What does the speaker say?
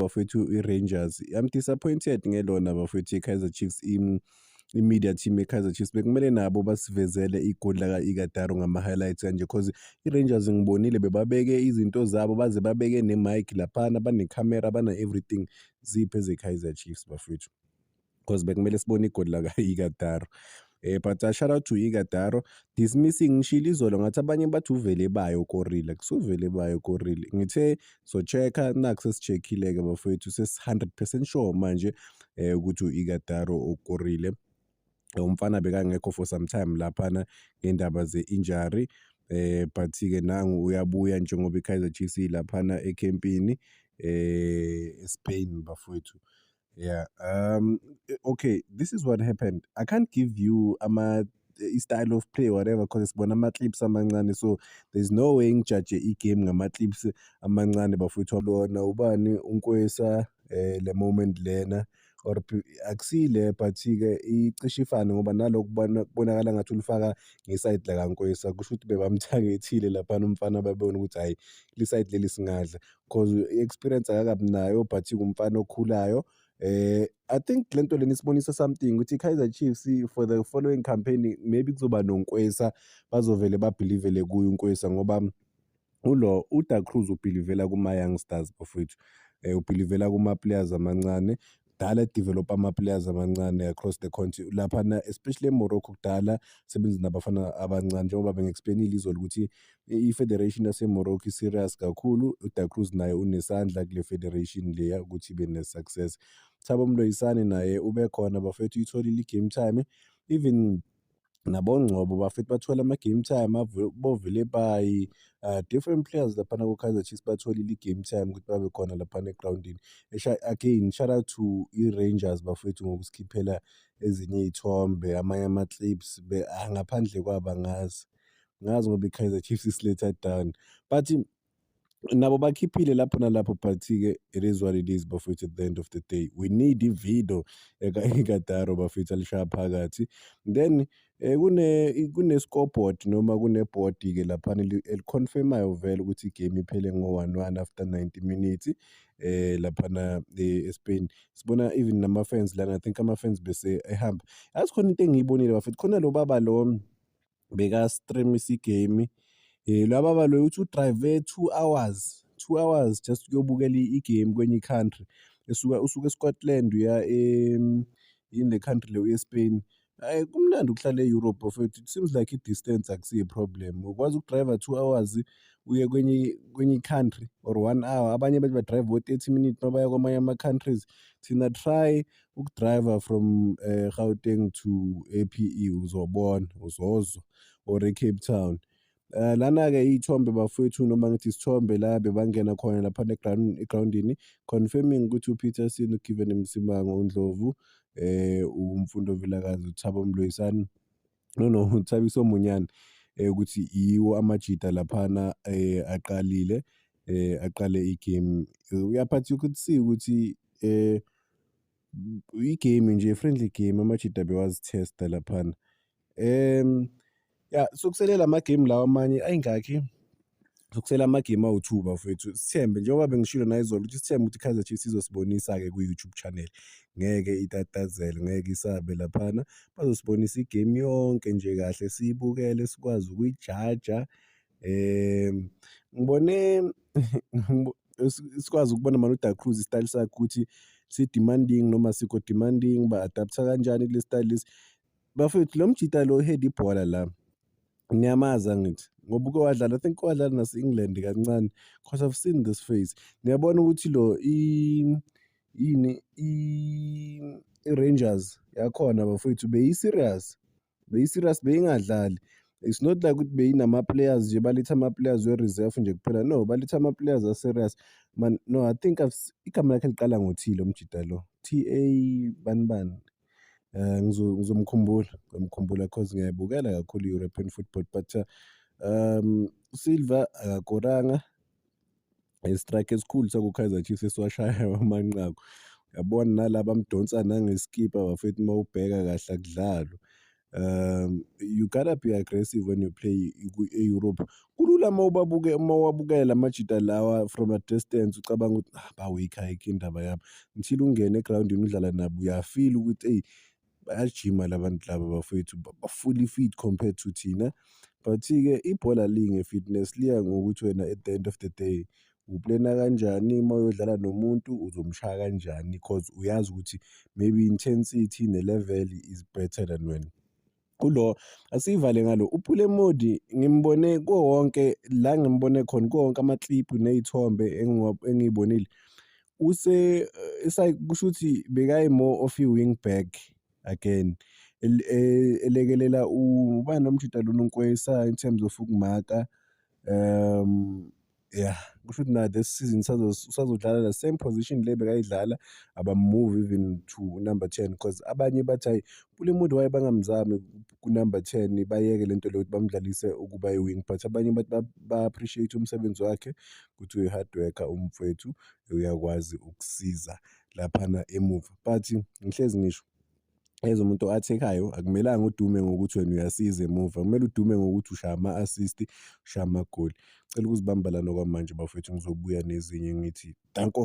bafethu i-rangers i'm disappointed ngelona bafethu i-kaizer chiefs im i-media team ye-Kaizer Chiefs bekumele nabo basivezele igoli laka-Ikadaro ngama-highlights kanje cause i-Rangers ngibonile bebabeke izinto zabo baze babeke ne-mic laphana banekhamera bana-everything ziphi eze-Kaizer Chiefs bafethu cause bekumele sibone igoli laka-Ikadaro eh but uh, shout out to Ikadaro dismissing ngishilo izolo ngathi abanye bathi uvele bayo korile kusuvele bayo korile ngithe so check-a naku sesichekhile-ke bafowethu sesi-hundred percent sure manje um ukuthi u-ikadaro okorile umfana bekangekho for some time laphana ngendaba ze-injury eh but-ke nangu uyabuya njengoba i-kaizer chiefs ilaphana ekhempini eh espain bafowethu Yeah. Um. Eh, okay. This is what happened. I can't give you ama eh, i-style of play whatever because sibona ama-clips amancane so there's no way ngijaje i-game ngama-clips amancane bafowethu lona ubani unkwesa eh le moment lena or akusile but-ke icishe ifane ngoba nalokhu kubonakala ngathi ulifaka ngesayidi lakankwesa kusho ukuthi bebamthangethile laphana umfana babebona ukuthi hhayi lisayidi leli singadla cause i-experience akakabi nayo but ingumfana okhulayo Eh, I think le nto lena isibonisa something ukuthi i-Kaizer Chiefs for the following campaign maybe kuzoba noNkwesa bazovele babhilivele kuye uNkwesa ngoba ulo uDa Cruz ubhilivela kuma-youngsters bafowethu um ubhilivela kuma-players amancane kudala develop ama-players amancane across the country laphana especially emorocco kudala sebenzi nabafana abancane njengoba bengi-explainile izolo ukuthi i-federation yasemorocco i-serious kakhulu uda cruz naye unesandla kule federation leya ukuthi ibe ne-success thabo mloyisane naye ubekhona bafethu uyitholile i-game time even nabongcobo bafethu bathole ama-game time bovelepayi um ah, different players laphana ko-kaizer chiefs batholile i-game time ukuthi babe khona laphana egrawundini again shout out to i-rangers bafethu ngokusikhiphela ezinye iy'thombe amanye ama-clips ah, ngaphandle kwabo angazi ngazi ngoba i-kaizer chiefs isiletha down but nabo bakhiphile lapho nalapho but-ke it is what it is bafowethu at the end of the day we need ividio ekadaro bafowethu alishaya phakathi then eh, kune kune-scoreboard noma kunebhodi-ke laphana eliconfirmayo vele ukuthi igame iphele ngo-one one after ninety minutes eh laphana eh, eSpain sibona even nama-fans lana i think ama-fans bese ehamba yazi khona into engiyibonile bafowethu khona lo baba lo beka-stream-isa igemu. Lo baba loyo uthi u-drive two hours, two hours just ukuyobukela igemu kwenye i-country. Esuka usuka e-Scotland uya yini le country le, uye-Spain. Hhayi kumnandi ukuhlala e-Europe bafwethu, it seems like i-distance akusiyo i-problem. Ukwazi uku-drive-a two hours uye kwenye kwenye i-country or one hour. Abanye bathi ba-drive-a o-thirty minutes uma baya kwamanye ama-countries. Thina try ukudriver from uh, gauteng to ape uzobona uzozwa or ecape town Uh, lana-ke iy'thombe bafowethu noma ngithi isithombe la bebangena khona laphana egrawundini confirming ukuthi upeterson ugiven msimango undlovu eh umfundo vilakazi uthabo mloyisani No, no, uThabiso Monyane ukuthi yiwo amajita laphana aqalile aqale i-game. Uyaphatha ukuthi see ukuthi i-game nje friendly game amajita bewazithesta laphana. Ya, sokuselela amagemu lawa amanye ayingakhi? Sokusela amagemu awu-two bafowethu. Sithembe njengoba bengishilo nayizolo ukuthi sithembe ukuthi i-Kaizer Chiefs izosibonisa-ke kwi-YouTube channel. Ngeke itatazele, ngeke isabe laphana. Bazosibonisa igemu yonke nje kahle siyibukele sikwazi ukuyijaja. Um ngibone sikwazi ukubona manje uDa Cruz isitayeli sakhe ukuthi si-demanding noma sikho demanding, ba-adaptha kanjani kule sitayeli lesi. Bafowethu lo mjita lo uheda ibhola la. Ngiyamazi angithi ngoba uke wadlala, I think uke wadlala nase-England kancane because I've seen this face. Ngiyabona ukuthi lo yini i-Rangers yakhona bafowethu beyi-serious, beyi-serious beyingadlali. It's not like ukuthi beyinama-players nje baletha ama-players we-reserve nje kuphela no baletha ama-players a-serious man no I think igama lakhe liqala ngo-T lo mjita lo T-A bani bani. um ngizomkhumbula ngizomkhumbula cause ngiyayibukela kakhulu i-european football but um usilva akakoranga istrike esikhulu sakukaizer chiefs esiwashaya amanqaku yabona nalaba mdonsa nangeskipa bafethu uma ubheka kahle akudlalwa um you gotta be aggressive when you play e-europe kulula uma ubabuke uma uwabukela amajita lawa from a distance ucabanga ukuthi ah ba-weak ayikho indaba yami until ungene egrawundini udlala nabo uyafila ukuthi eyi bayajima la bantu laba bafowethu ba-fully fit compared to thina but-ke ibhola linge-fitness liya ngokuthi wena at the end of the day uplena kanjani uma uyodlala nomuntu uzomshaya kanjani cause uyazi ukuthi maybe intensity ne-level is better than wena. Kulo asiyivale ngalo uphule modi ngimbone kuwo wonke la ngimbone khona kuwo wonke amakliphu ney'thombe engiy'bonile use eh, kusho ukuthi bekayi-more of i-wing back again e-, elekelela ubani lomjita lona uNkwesa in terms of ukumaka um. yeah kusho ukuthi na this season usazodlala the same position le bekayidlala abamove even to number ten because abanye bathi hayi kule muntu waye bangamzami kunumber ten bayeke le nto leyo ukuthi bamdlalise ukuba i-wing but abanye bathi ba-appreciate umsebenzi wakhe ukuthi uyi-hard worker umfwethu uyakwazi ukusiza laphana emuva but ngihlezi ngisho as umuntu o-athekayo akumelanga udume ngokuthi wena uyasiza emuva kumele udume ngokuthi ushaya ama-assist ushaya amagoli cela ukuzibamba lana kwamanje bafethu ngizobuya nezinye ngithi danko